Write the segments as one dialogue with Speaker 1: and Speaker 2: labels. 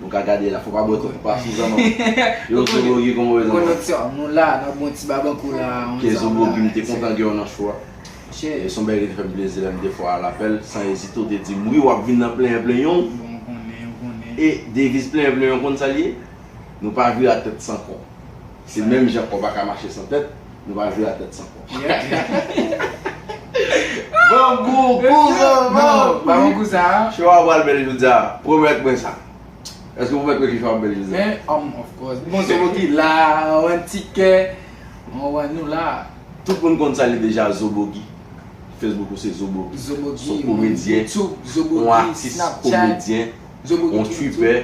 Speaker 1: Nou ka gade la, fò pa bwè twòp pa Suzan non. Yo zobogi kòman ou ye tonton? Koneksyon, nou la nan bon
Speaker 2: ti babankou la. Ke zobogi m te kontan
Speaker 1: gen w nan show a. E son bagay ki te fè m plezi lè m te fò a lapèl, san ezite w te di m wi w ap vin nan plenyen plenyen w. Bon m konnen, m konnen. E deviz plenyen plenyen w konn sa l ye? Nou pa vira tèt san kò. Se menm jan kò pa ka mache san tèt, nou va jwe a tèt san kò. Bon gou,
Speaker 2: gou zanmanm! Ba mwen gou sa a. Show a pral bèl jodi
Speaker 1: a, pwomèt mwen sa. Èske ou pwomèt mwen ke show a ap bèl jodi a? Men, um, of course. Bon
Speaker 2: Zobo ki la, anvan tikè, mwen wè nou la a. Tout moun konn sa li
Speaker 1: deja Zobogi. Facebook ou se Zobogi. Zobogi, Yon komedyen, Yon
Speaker 2: atis
Speaker 1: komedyen, Yon
Speaker 2: tripè.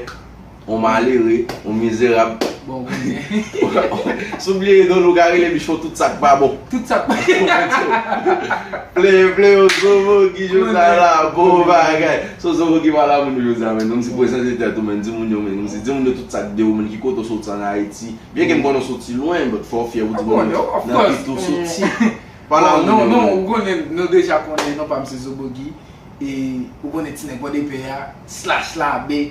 Speaker 1: On malere, on mizerab. Bon konnen. Si w bliye idòl ou ka rele Michon tout sa k pa bon. Tout sa k pa bon.
Speaker 2: Plen
Speaker 1: plen yo zobo ki jou sa la bon bagay. Si w zobo ki pa la moun jou sa menn. Menm si prezante tèt ou menn di moun yo menn. Menm si di moun yo tout sa k de ou menn ki kote w soti an Ayiti. Byen ke m konnen w soti lwen but fò w fyè pou di moun yo nan ki tou soti. Pa la moun yo menn.
Speaker 2: Non ou konnen nou deja konnen non pa m se zobo ki. E ou konnen ti nèg pòdepè a slash labe.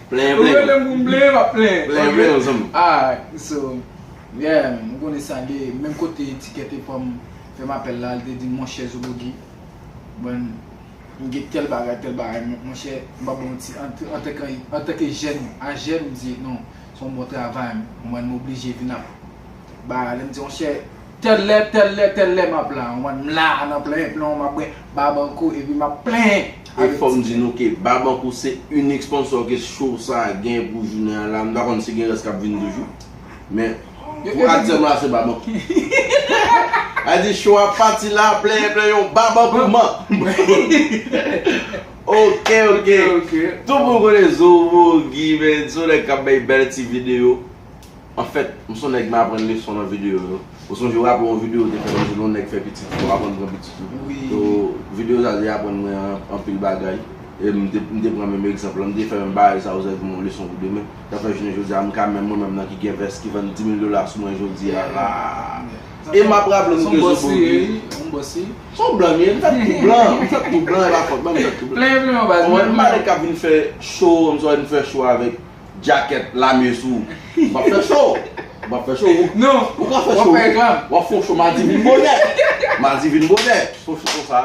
Speaker 2: Plenyen
Speaker 1: Ou plenyen. relem pou m plenyen map plenyen Plenyen ok plenyen
Speaker 2: zanmi. alright so yeah man ou konnen sa ye menm kote tikè te pranm fèm apèl la li te dim monchè zobogi man m gen tèl bagay tèl bagay men monchè m pap baw manti antanke antanke jèn ajèm m di non son bon travay man m oblije vin ap Ba lem di yon chè tèl lè tèl lè tèl lè map la an mòd m la a nan plenyen plenw map bwè Barbancourt epi map plenyen E fòm di nou
Speaker 1: ke Barbancourt se inik sponsò ke show sa a gen pou jounen an la m pa konn si gen rès kap vin toujou men pou aktiyèlman la se Barbancourt A di show a pati la plenyen plenyon Barbancourt man Ok ok Tout moun konnen Zomo, Guy men son nèg kap bay bèl ti video. Anfèt, m son nèg m aprann leson nan videyo yo. Ou sonje w aple yon videyo ou te fè nan zile yon nèg fè pitit ou aprann pran pitit ou. So,
Speaker 2: videyo sa
Speaker 1: te aprann mwen anpil bagay. E m te pran menm egzanp lan. M te fè menm bagay sa yo sèvi m yon leson pou demen. Sa fè jounen jodi a m ka menm mwen menm nan ki gen vès ki vann 10 mil dola sou mwen jodi a la. E m ap raple nou ke Zobo di. Son bòs li ye wi.
Speaker 2: Son blan m ye. M fèt
Speaker 1: tou blan. M fèt tou blan e pa fòt mwen m fèt tou blan. Plen plen w baz. Konprann? M pa nèg
Speaker 2: k ap vin fè
Speaker 1: show m swa vin fè show avèk. Jacket lame sou ou ap fè cho ou ap fè cho ou non
Speaker 2: ou ka fè cho
Speaker 1: ou ap fon cho madi vin bonè madi vin bonè fon cho konsa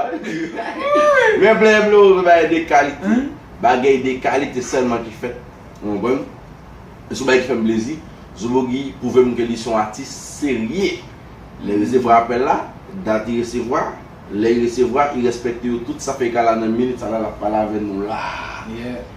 Speaker 1: men vle vle ou vle bagay de kalite bagay de kalite sèlman ki fèt ou konprann e son bagay ki fèm plezi Zobogi pwouvem ke li son atis serye lè resevwa apèl la dat li resevwa. Lè y resevwa, y rèspèkte yo tout, sa fè y ka la nan minit sa la, l ap pale avè nou la.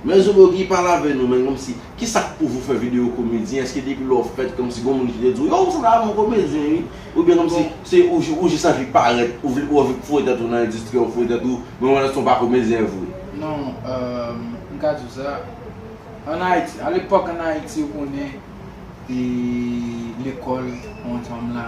Speaker 1: Men zo Bogey pale avè nou men kòmsi, kisa k pou vou fè videyo komedyen, èske depi lè w fèt kòmsi gon moun ki te di w yo ou sanble avè yon komedyen wi, oubyen kòmsi se ou jis anvi parèt, ou vle ou anvi pou foure tèt ou nan endistri a ou foure tèt ou, men ou wè nan son w pa komedyen vre. Non,
Speaker 2: m ka di w sa, an Ayiti, a lepòk an Ayiti ou konnen, e lekòl, on janm la.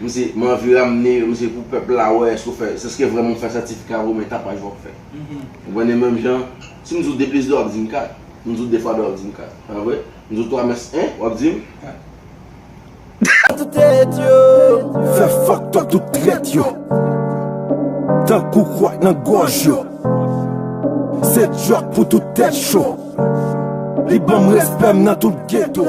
Speaker 1: Mse manvi ramne yo mse pou pèp la wè eske ou fè eske vrèman ou fè sètifika vre ou men tapaj wap fè ou konprann e menm jan si mdi w 2 plis 2 wap dim 4 mdi w 2 fwa 2 wap dim 4 pa vre mdi w 3 mès 1 wap dim 4. Tout
Speaker 3: tèt yo. Fè fucked up tout trèt yo. Tankou kwak nan gòj yo. Se djòk pou tout tèt cho. Li banm respè m nan tout ghetto.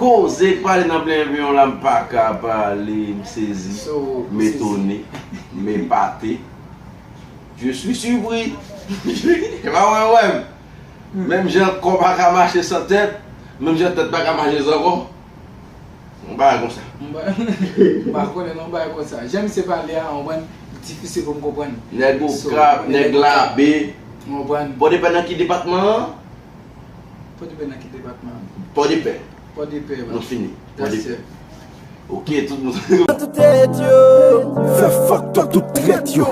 Speaker 1: Koze k pale nan plen enviyon la m paka pa ale m sezi, m etone, m epate, je suis surpris e pa mwen wè m menm jan kò pa ka mache san tèt menm jan tèt pa ka mache san kò yon bagay konsa. M pa
Speaker 2: konnen non bagay konsa jan misye pale a ou konprann li difisil pou m konprann. Nèg Okap,
Speaker 1: nèg Labe, ou konprann. Bon depann nan ki depatman an?
Speaker 2: Pòdepè nan ki depatman? Pòdepè.
Speaker 1: Pòdepè la. Nou
Speaker 2: fini.
Speaker 1: Pòdepè. Ok tout moun. Fè tout tèt yo.
Speaker 3: Fè fòk tò tout trèt yo.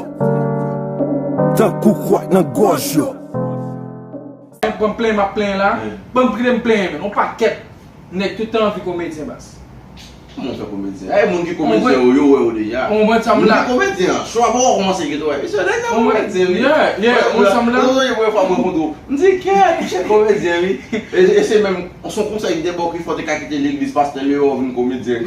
Speaker 3: Tankou kwak nan gòj yo.
Speaker 2: Mwen pran plenyen map plenyen la. Banm priye m plenyen menm. On pakèt nèg tout tan anvi komedyen baz. Kòman ou fè
Speaker 1: komedyen? Eeh moun ki komedyen yo, yo wè ou deja. Ou konprann sa m la? Moun ki komedyen
Speaker 2: an, show a poko
Speaker 1: kòmanse gen tou wè, mesye nèg sa komedyen wi. Yeah, yeah, ou konprann
Speaker 2: sa m la? Ou konprann sa m la? Premye fwa m rankontre w,
Speaker 1: m di kè, ti chè komedyen wi. E se menm, se yon konsèy m te ba w ki fè w te ka kite legliz pastè Leyò vin komedyen.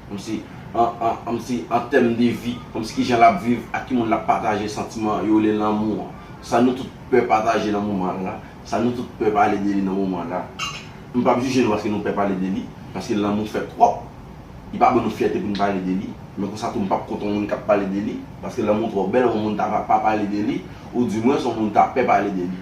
Speaker 1: Anmsi, an tèm de vi, anmsi kijan l ap viv, ak ki moun l ap pataje santiman yo rele lanmou an. Sa nou tout pè pataje nan moman la, sa nou tout pè pale de li nan moman la. M pa p jije nou paske nou pè pale de li, paske lanmou fè twòp. Li pa ban nou fyète pou n pale de li, men konsa tou m pa p kont yon moun k ap pale de li, paske lanmou twò bèl yon moun ta va pa pale de li, oudimwens yon moun ta pè pale de li.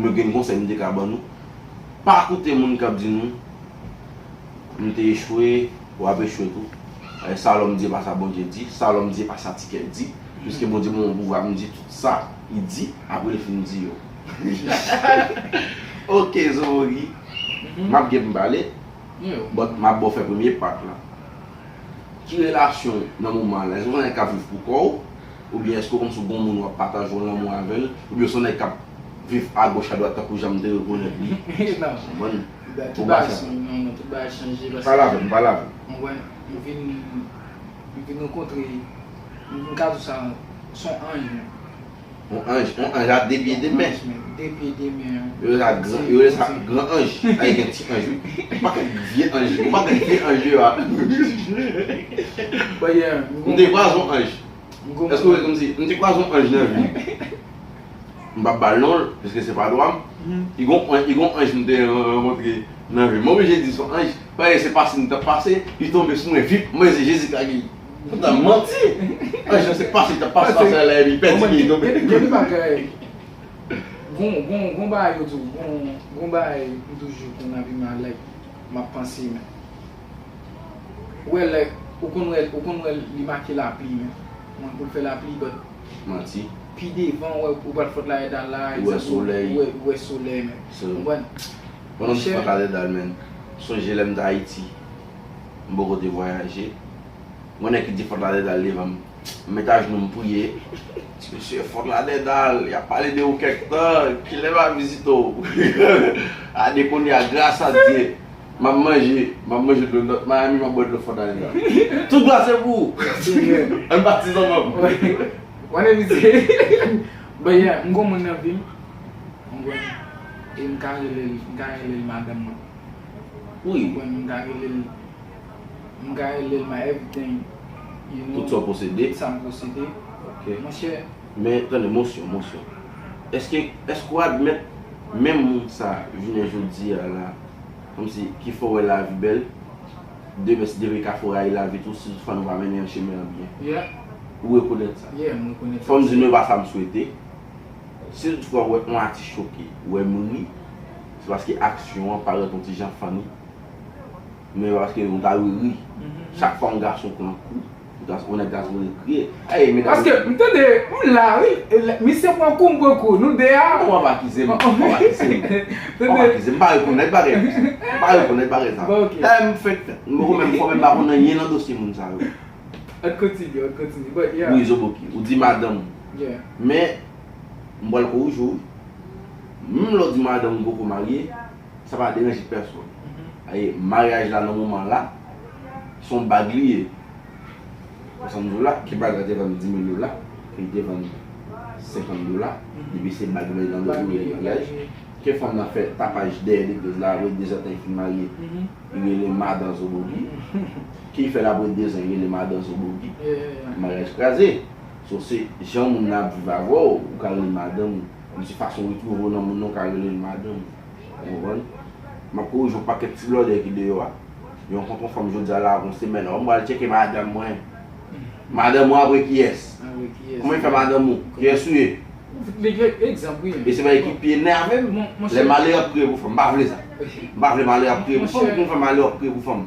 Speaker 4: Mwen
Speaker 1: gen yon konsèy m te ka ban nou, pa koute moun k ap di nou m te echwe, w ap echwe tou. Sa lòm di e pa sa Bondye di, sa lòm di e pa sa tikè di, piske Bondye ban mwen pouvwa pou m di tout sa li di apre li fin di yo. Ok Zowori map gen pou m pale but map baw fè premye part lan Ki relasyon ou nan moman an la? Èske ou se yon nèg kap viv pou kò ou oubyen èske ou kòmsi ou gon moun wap pataje yon lanmou avèl oubyen ou se yon nèg kap viv a goch a dwat tankou janm te rekonèt li Konprann?
Speaker 2: Pou ba sa Non non tout bagay chanje paske Pale avèm pale avèm
Speaker 1: Konprann
Speaker 2: m vin m vin rankontre m ka di w sa son anj menm On
Speaker 1: anj, on anj a 2 pye 2
Speaker 2: men.
Speaker 1: Anj menm, 2 pye 2 men an. Yo rele sa gran, yo rele sa gran anj. A e gen ti anj wi. M pa konn vye anj yo, m pa konn vye anj yo a. Bon yeah, m gon. M te kwaze on anj. M gon. Èske w wè kòmsi, m te kwaze on anj nan vi m. M pap ba l non l, piske se pa dwa m. E gon on, e gon anj m te rankontre nan vi m. M oblije di son anj, paske se pase m t ap pase, li tonbe sou mwen vip, m wè se Jezi k lage. Ou ta manti. An jan se pase ta pase pase la la epi pè ti li donbe. Gen de bagay
Speaker 2: gon gon gon bagay yo di w gon gon bagay m toujou konn ap imalèk m ap panse men ou wè lè ou konn wè ou konn wè li make lapli men mwen pou l fè lapli but Manti.
Speaker 1: pi devan ou
Speaker 2: wè ou pral fòt la edal la Ou wè solèy. ou wè
Speaker 1: ou wè solèy men
Speaker 2: So. konprann.
Speaker 1: Pandan m t fòt la edal men sonje lè m t ayiti. M poko te vwayaje. M konnen ki di Fort Lauderdale devan m. M met ajnou m priye. Ti mesye, Fort Lauderdale, y ap pale de ou kèk tan, kilè m al vizite w? Gade kounye a, gras a Dye, m ap manje, m ap manje dlo North Miami, m ap bwè dlo Fort Lauderdale. Tout glwa se pou ou! Senyè! An n batize w manm! Ou konnen
Speaker 2: misye. Bon, yè, m gen yon moun nan vi m, ou konprann, e m ka rele l, m ka rele l madanm mwen.
Speaker 1: Wi wè m ka rele l
Speaker 2: M ka rele l my everything You know Tout sa
Speaker 1: w posede Tout sa m posede
Speaker 2: Ok Monchè Men tande mosyon
Speaker 1: mosyon Èske èske w admèt menm moun sa jounen jodi a la kòmsi ki fè w wè lavi bèl demen si Depi kafou rayi lavi tou si fann ou pa mennen yon chemen an byen Yeah Ou
Speaker 2: rekonèt sa
Speaker 1: Yeah m rekonèt sa Fò m di
Speaker 2: nou e pa sa m swete
Speaker 1: Si w t fwa wè yon atis choke wè m ri Se paske aksyon an parèt yon ti jan funny men paske ou ta dwe ri chak fwa yon gason pran kou yon nèg ta sipoze kriye hey medam Paske m tande
Speaker 2: m la wi misye pran kou m pran kou nou 2 a Non wap akize m wap
Speaker 1: akize m wap akize m m pa rekonèt bagay m pa rekonèt bagay sa Bon ok Hey m fenk fenk m poko menm fò menm pa konn anyen nan dosye moun sa yo Ann kontinye
Speaker 2: ann kontinye bon yeah Wi
Speaker 1: zoboki ou di madanm ou Yeah Men M bwèl kou ou jou wi. Menm lè w di madanm ou poko marye, sa pa deranje pèsonn. Paske maryaj la nan moman la, se yon bag li ye. Wè sa m di w la? Ki bag la te vann dimil dola, ke li te vann senkant dola, depi se bag nan nan dòt ou rele maryaj. Ke fanm nan fè tapaj dèyè legliz la apre dezan tan li fin marye, li rele madan zobogi. Ke li fè l apre dezan, li rele madan zobogi. Maryaj kraze. So se jan moun nan ap viv avè w, ou ka rele l madanm ou. Menm si fason w retwouve w nan moun nan ou ka rele l madanm ou. Ou konprann? M ap korije yon pakèt ti blòdè ki deyò a. Yo rankontre yon fanm jodi a la avè yon semèn, oh m pral tcheke madanm mwen. Madanm ou apre kiyès? Kòman yo fè madanm ou? Kiyès ou ye?
Speaker 2: E se bagay ki pi enève
Speaker 1: m, lè malè ap kriye pou fanm. M pa vle sa. M pa vle malè ap kriye pou fanm. Ou konn fè malè ap kriye pou fanm?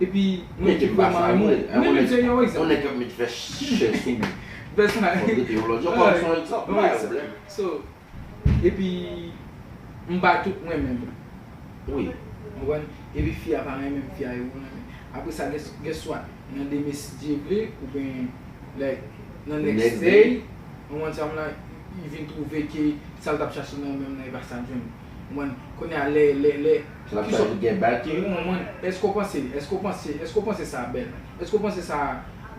Speaker 2: Epi mwen te vrèman renmen
Speaker 1: li. Mwen menm se yon
Speaker 2: egzanp. Yon nèg k ap met vès chè
Speaker 1: sou li. Vès chè. Fò w trete
Speaker 2: yon lòt jan. Bon, se yon egzanp. Mwen bay yon blèm. So, epi m pa tout renmen l. Wi.
Speaker 1: Ou konprann?
Speaker 2: Epi fi a pa renmen m, fi a yo renmen. Apre sa gen swat nan de mesi Dye vle oubyen like nan next day, ou konprann sa m la, li vin twouve ke sa l t ap chache nan menm nan e pa sa l jwenn. Konprann? Kounye a lè, lè, lè. Sa ap sa di gen
Speaker 1: baki? Ou konprann? Èske ou panse,
Speaker 2: èske ou panse, èske ou panse sa bèl? Èske ou panse sa,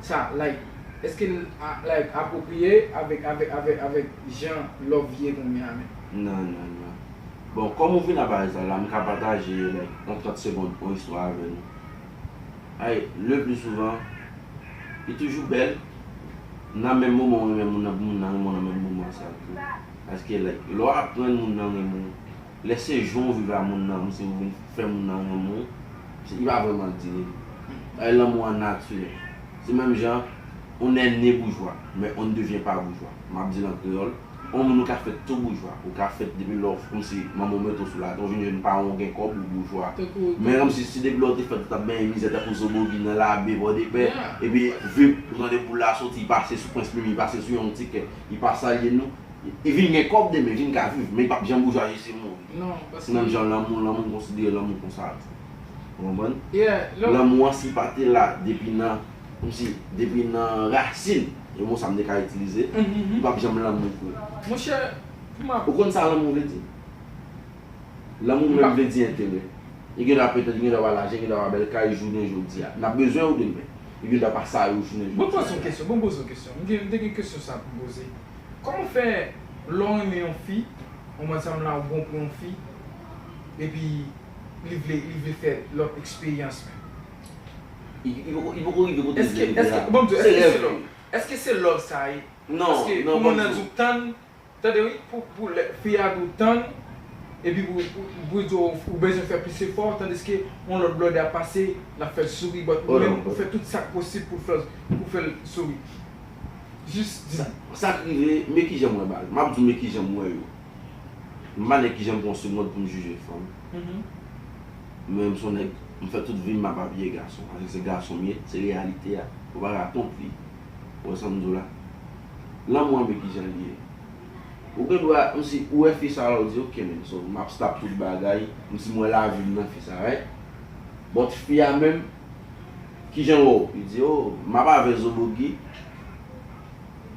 Speaker 2: sa, like, èske l, like, apwopriye avèk, avèk, avèk, avèk jan love ye kounye a menm? Nan, nan, nan.
Speaker 1: Bon, kòm ou vin a pale sa la, m ka pataje, like, an trant segond on istwa avè nou. Ay, le pli souvan, li toujou bèl, nan menm moman ou renmen moun nan, pou moun nan renmen w nan menm moman sa tou. Paske like lè w aprann moun nan renmen w lè se jan w viv a moun nan menm si ou vin fè moun nan renmen w li pa vrèman di li bay lanmou an natirèl se menm jan on nè ne boujwa men on ne devyen pa boujwa m ap di l an kreyòl on moun ou ka fèt tou boujwa ou ka fèt depi lè w kòmsi manman w mete w sou latè ou vin jèn paran w gen kòb ou boujwa men kòmsi si depi lè w te fèt ou t ap benyen mizè tankou zobogi nan labe pòdepè epi vip ou tande boul la soti pase sou prens mimi pase sou yon ti kè. Li pa salye nou. Li vin gen kòb demen, li vin ka viv, men li pap janm boujwazi si l mouri. Se menm jan
Speaker 2: lanmou, lanmou m
Speaker 1: konsidere lanmou konsa tou. Ou konprann? Lanmou an
Speaker 2: si pa te la
Speaker 1: depi nan, kòmsi, depi nan rasin, yon mo sa m te ka itilize, li pap janm lanmou vre. Monchè,
Speaker 2: pou m ap. Ou konn sa
Speaker 1: lanmou vle di? Lanmou menm vle di enterè. Li gen dwa petèt, li gen dwa pa lajan, li gen dwa pa bèl kay jounen jodi a. N ap bezwen yo demen. Li gen dwa pa sa yo jounen jodi a. Bon m poze yon kesyon, bon m
Speaker 2: poze yon kesyon. M gen, m te gen kesyon sa pou m poze. Kòman fè lè w renmen yon fi, yon bann sa m la ou bon pou yon fi, epi li vle, li vle fè lòt eksperyans menm? Li poko,
Speaker 1: li poko rive kote m vle rive a. Èske, èske, bon m di w, èske se love?
Speaker 2: Èske se love sa e? Non, non, bon m di w. Paske pou
Speaker 1: moun nan di w
Speaker 2: tann. Tande wi pou pou lè fi a di w tann epi pou pou di w ou bezwen fè plis efò tandiske yon lòt blòdè ap pase l ap fè l souri but ou menm ou fè tout sa k posib pou fè l pou fè l souri jis di m. Sa k rive
Speaker 1: men kijan m wè bagay m ap di w men kijan m wè yo m pa nèg kijan m pran segond pou m jije fanm men m son nèg m fè tout vi m m ap abiye gason paske se gason m ye se reyalite a m pa ra kont li. Ou wè sa m di w la? Lanmou an men ki jan l ye. Ou gen dwa, m si ou wè fi sa a la ou di ok men so m ap stop tout bagay, m si m wè lavi m nan fi sa a right. But fi a menm, ki jan l wè w? Li di oh m ap avè Zobogi,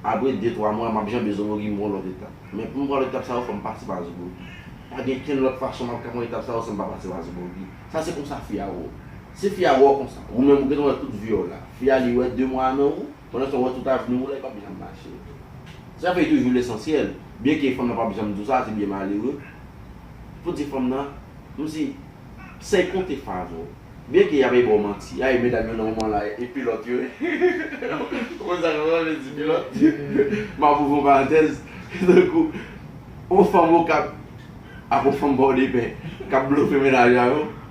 Speaker 1: apre de twa mwa m ap janbe Zobogi m pran lòt etap. Men pou m pran etap sa yo fò m pase pa Zobogi. Pa gen kenn lòt fason m ap ka pran etap sa yo san m pa pase pa Zobogi. Sa se konsa fi a wè w. Si fi a wè w konsa, ou menm ou gentan wè tout vi w la. Fi a li wè 2 mwa a nan ou, pandan se w wè tout avni w la, li pap janm mache. Sa fè li toujou lesansyèl, byen ke fanm nan pap janm di w sa, se byen malere, pou di fanm nan, m si, sèy konte favò. Byen ke y ap e ba w manti, ay medam yo nan moman la e pilòt yo ye, ou konn sa sa vle di pilòt, m ap ouvri yon parantèz, se tankou yon fanm Okap ak yon fanm Pòdepè k ap blofe mennaj a yo.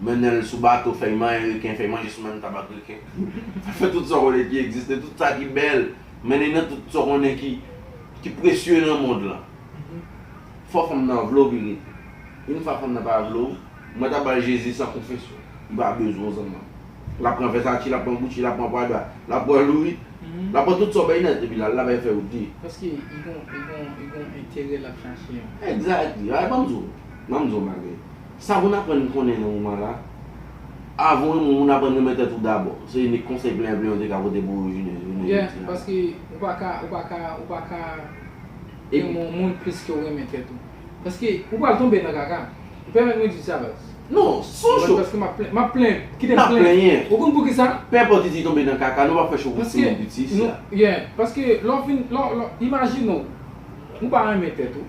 Speaker 1: Mennen l sou bato, fèy manyen reken, fèy manje sou menm tab ak reken. Fè tout sa w konnen ki egziste, tout sa ki bèl, mennen nan tout sa w konnen ki presye nan mond lan. Fò fanm nan vle w vin rete. Yn fwa fanm nan pa vle w, mwen ta ba l Jezi san konfesyon. Li pa bezwen w zanman m. L ap pran Versace, l ap pran Gucci, l ap pran Prada, l ap pran Louis, l ap pran tout sa w bay nan epi l al, l ap al fè w di. Paske
Speaker 2: li gon enterè l ap chache an. Exactly, bay ban m di
Speaker 1: w. M'en di w bagay. Sa moun aprann konnen nan moman la, avan w renmen yon moun aprann renmen tèt ou dabò. Se inik konsèy plen a plen yo te ka pote pou ou jounen jodi a. Yeah, paske
Speaker 2: ou pa ka, ou pa ka, ou pa ka renmen yon moun plis ke w renmen tèt ou. Paske ou pral tonbe nan kaka. Pèmèt mwen di w sa baz. Non, son
Speaker 1: show. Paske m'ap plen, m'ap plen,
Speaker 2: kite m' plenyen. Ou konn poukisa?
Speaker 1: Pè
Speaker 2: enpòt li di tonbe nan
Speaker 1: kaka, nou p'ap fè show pou ti moun piti isit la. Yeah,
Speaker 2: paske lè w fin, lè w, imajine w, ou pa renmen tèt ou.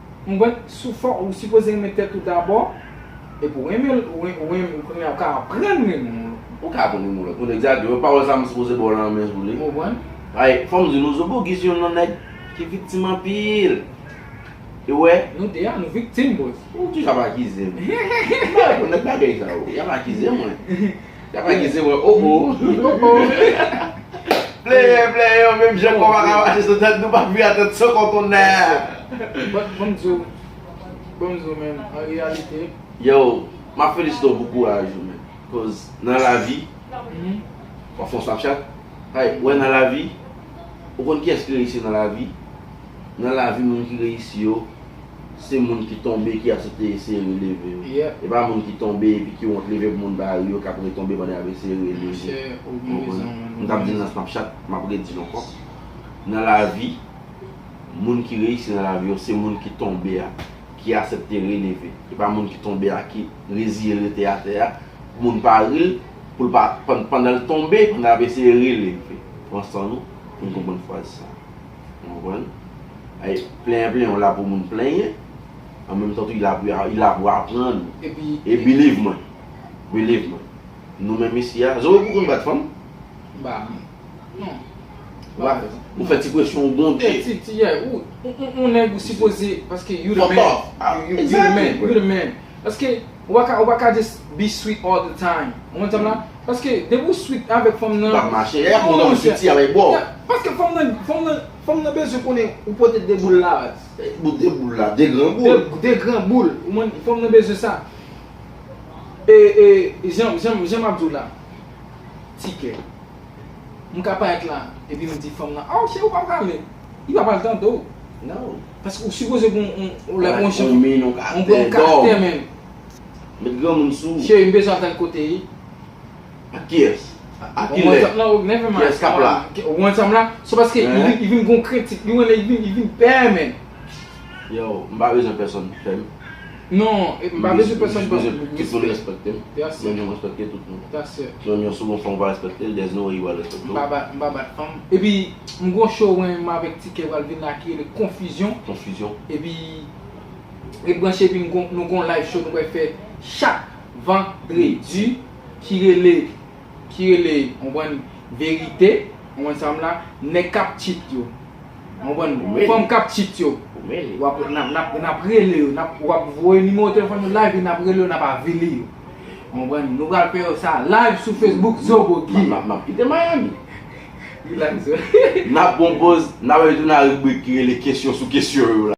Speaker 2: Mwen sou fò ou sipoze renmen tèt ou dabò epi ou renmen l ou renmen l kounye a ou ka aprann renmen yon lòt moun. Ou ka aprann
Speaker 1: renmen yon lòt moun egzakteman pawòl sa mwen sipoze baw lan men sou li. Ou konprann? Paske fòm di nou Zobogi se yon nan nèg ki viktim anpil ou wè. Nou 2 a nou viktim
Speaker 2: bòs. Ou toujou ap akize
Speaker 1: m. M pa renmen nèg bagay sa yo. Yap akize mwen. Ya pa gen se wè oh oh. Pleye pleye yo menm jan kò paka mache sou tèt nou pa vire a tèt
Speaker 2: sou
Speaker 1: kò konnenn. But banm di w banm
Speaker 2: di
Speaker 1: w
Speaker 2: menn an reyalite. Yow
Speaker 1: map felisite w pou kouraj ou menn koz nan lavi wap fon snapchat hay wè nan lavi ou konn kiyès ki reyisi nan lavi nan lavi moun ki reyisi yo Se moun ki tonbe ki asepte eseye releve yo. E pa moun ki
Speaker 2: tonbe
Speaker 1: epi ki wont leve pou moun pa ri yo k ap retonbe pandan y ap eseye releve. Ou konprann? M t ap di l nan Snapchat, m ap redi l ankò. Nan lavi, moun ki reyisi nan lavi yo se moun ki tonbe a ki asepte releve. E pa moun ki tonbe a ki reziye l rete atè a pou moun pa ri l, pou l pa pandan l tonbe, pandan l ap eseye releve. Pran san nou pou n konprann fraz sa. Ou konprann? Ay plenyen plenyen ou la pou moun plenyen an menm tan tou i la pou ya i la pou aprann ou. Epi E biliv mwen biliv mwen nou menm isi a Zoe pou konn bat fanm? M pa konn non m pa
Speaker 2: konn
Speaker 1: Ou fè ti presyon ou gwonde Fè ti ti yè ou
Speaker 2: on nèg ou sipoze paske you the man Fòtò a Exactly You the man Paske Ou pa ka ou pa ka just be sweet all the time ou konn sam la paske depi ou sweet avèk fanm nan Wap mache lè non monchè Ou
Speaker 1: piti avèl boo Paske fanm nan
Speaker 2: fanm nan fanm nan bezwen konnen ou pote 2 boul la baz Bon 2 boul la 2
Speaker 1: gran boul 2 gran boul
Speaker 2: ou konn fanm nan bezwen sa E e jan jan map diw la Ti kè. M ka pa et la epi m di fanm nan oh cheri ou pa pral ale li pa pral tande w nan
Speaker 1: paske ou sipoze
Speaker 2: gen yon lè yon jan yon
Speaker 1: karaktè menm
Speaker 2: met
Speaker 1: granmoun sou ou cheri m bezwen al tande kote
Speaker 2: e ak
Speaker 1: kiyès a ki lè kiyès k ap
Speaker 2: la ou
Speaker 1: wè sa m la
Speaker 2: se paske li vin gen yon krentif li wè li vin pè menm. Yow
Speaker 1: m pa bezwen pèsonn fèm Non
Speaker 2: m pa bezwen pèsonn fèm respè m jis bezwen tout moun respektem
Speaker 1: menm jan m respekte tout moun menm yon second fanm pa respekte l there's no way li pral respekte w M pa bat fanm epi
Speaker 2: m gon show wen m avèk Tikè pral vin la ki rele konfizyon konfizyon epi ret branche epi nou gon live show nou pral fè chak vandredi ki rele ki rele ou konprann verite ou konprann sa m la nèg kap cheat yo. Ou konprann? Fanm kap cheat yo. Ou mele. Wap nap nap rele yo. Nap wap voye nimewo telefòn yo live e nap rele yo nap avili yo. Ou konprann? Nou pral fè yo sa live sou Facebook Zobo Guy. Map map kite Miami.
Speaker 1: Relax.
Speaker 2: Nap bon poz,
Speaker 1: nap ale tou nan ribrik ki rele kesyon sou kesyon yo la.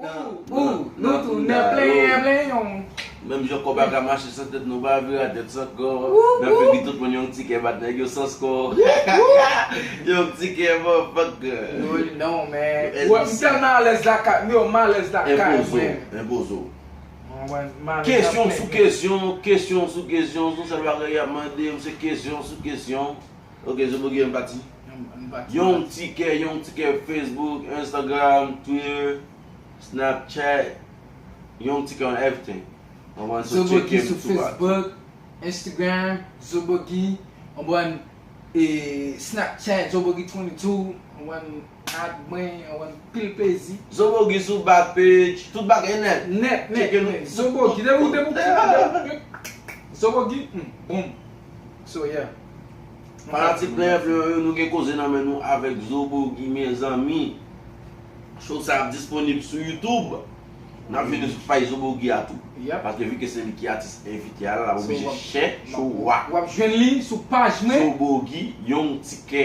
Speaker 4: Ooh ooh
Speaker 2: nou tou nan plenyen plenyen ooh. Menm jan
Speaker 1: kòb a ka mache san tèt nou pa vire a tèt san kò nan figi tout moun yon ti kè bat nèg yo sans kò yon ti kè man fòk Woy non
Speaker 2: men Woy m tèlman alèz lakay m yo m alèz lakay mwen Enpoze
Speaker 1: w Kesyon sou kesyon kesyon sou kesyon son sèl bagay y ap mande m se kesyon sou kesyon. Ok zo bgy an pati. Yon ti kè yon ti kè Facebook Instagram Twitter Snapchat yon ti kè on everything on one so check
Speaker 2: him sou Facebook Instagram zo bgy on one Snapchat zo bgy 22 on one. ak mwen wap gen anpil plezi. Zobogi sou back
Speaker 1: page tout bagay nèt. Nèt nèt nèt zobogi
Speaker 2: depi ou depi ou depi ou zobogi humm boom so yeah. Fanatik
Speaker 1: Plenyen Fleyo yo nou gen koze nan men nou avèk Zobogi mezanmi Show sa ap disponib sou YouTube Nap vini sou paj Zobogi a tou paske vike se li ki atis envite a lap oblije chè cho wa Wap jwenn li sou
Speaker 2: paj mwen Zobogi
Speaker 1: Yon tikè.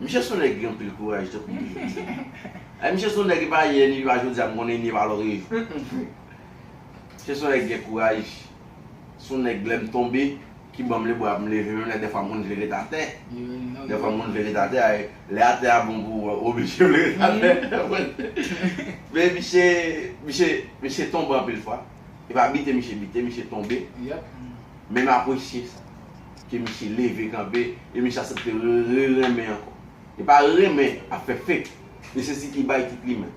Speaker 1: Misye son nèg ki gen anpil kouraj tankou m toujou di. Ay misye son nèg epa yè ni epa jodi a m konnen ni epa lò reve. Misye son nèg ki gen kouraj. Son nèg lè m tonbe ki ban m le bra pou m leve menm lè dèfwa m konn vle ret atè. Dèfwa m konn
Speaker 2: vle ret atè
Speaker 1: ay lè atè a bon pou ou oblije vle ret atè. Men misye misye misye tonbe anpil fwa. Epa bite misye bite misye tonbe.
Speaker 2: Men m apresye
Speaker 1: sa. ke misye leve kanpe e misye asepte re renmen ankò e pa re renmen ap fè fake e se si ki bay ki plimen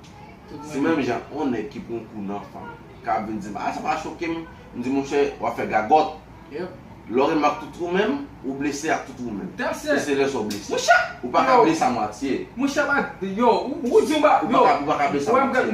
Speaker 1: se menm jan on nèg ki pran kou nan fanm ka ap vin dim a sa pa choke m m di monchè wap fè gagòt lè w
Speaker 2: renmen ak tout
Speaker 1: ou menm ou blese ak tout ou menm e se lè sa w blese ou pa ka blese a mwatye ou pa
Speaker 2: ka blese a mwatye.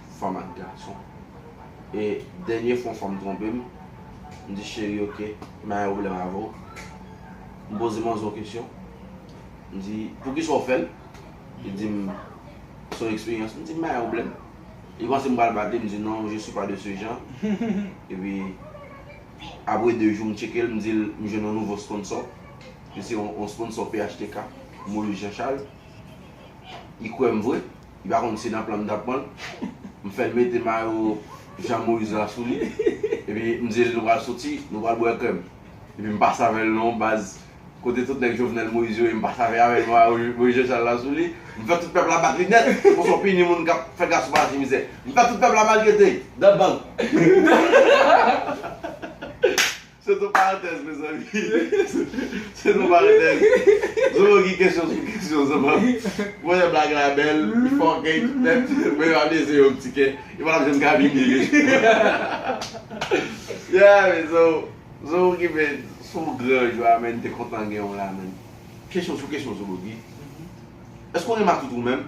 Speaker 1: fanm ak gason e dènye fwa yon fanm twonpe m m di cheri ok m pa gen pwoblèm avè w m poze manzè yon kesyon m di poukisa w fè l li di m se yon eksperyans m di m pa gen pwoblèm li panse m pral bat li m di non je suis pas de ce genre epi apre 2 jou m tcheke l m di l m jwenn yon nouvo sponsò li se yon sponsò phtk Moïse Jean Charles li kwè m vre. Li pa konn si nan plan m tap pranl. M fèl mete mayo Jean Moïse la sou li. Epi m dil nou pral soti, nou pral bwè krèm. Epi m pa save l non baz. Kote tout nèg Jovenel Moïse yo ye m pa save avèl mayo Moïse Jean Charles la sou li. M fè tout pèp la bat li nèt. Konsa w pini moun kap fè gason pase mizè. M fè tout pèp la maltrete. Dan bank. Se ton parantèz mezanmi. Se ton parantèz. Zomo ki kesyon sou kesyon zomo. Mwen wè blag la bèl, li fè ògèy tout nèt, men yo abyeze yo pti kè. Yo pa tap janm ka vin byen riche. Yeah men zomo, zomo ki men sou gran jwa men te kontan gen w la men. Kesyon sou kesyon zobogi. Èske w gen matout ou menm?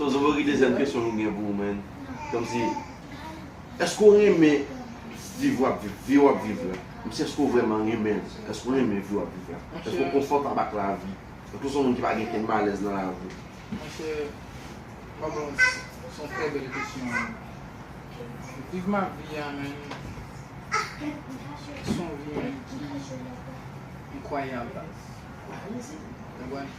Speaker 1: So zobo ki dezyèm kesyon m gen pou ou man komsi eske w renmen viv wap viv vi wap viv la komsi eske w vrèman renmen l eske w renmen vi wap viv la eske w konfòtab ak lavi eske w son moun ki pa gen okenn malèz nan lavi w. Monchè pa bon son trè
Speaker 2: bèl kesyon wi viv map vi a man son vi man ki enkwayab baz ou konprann.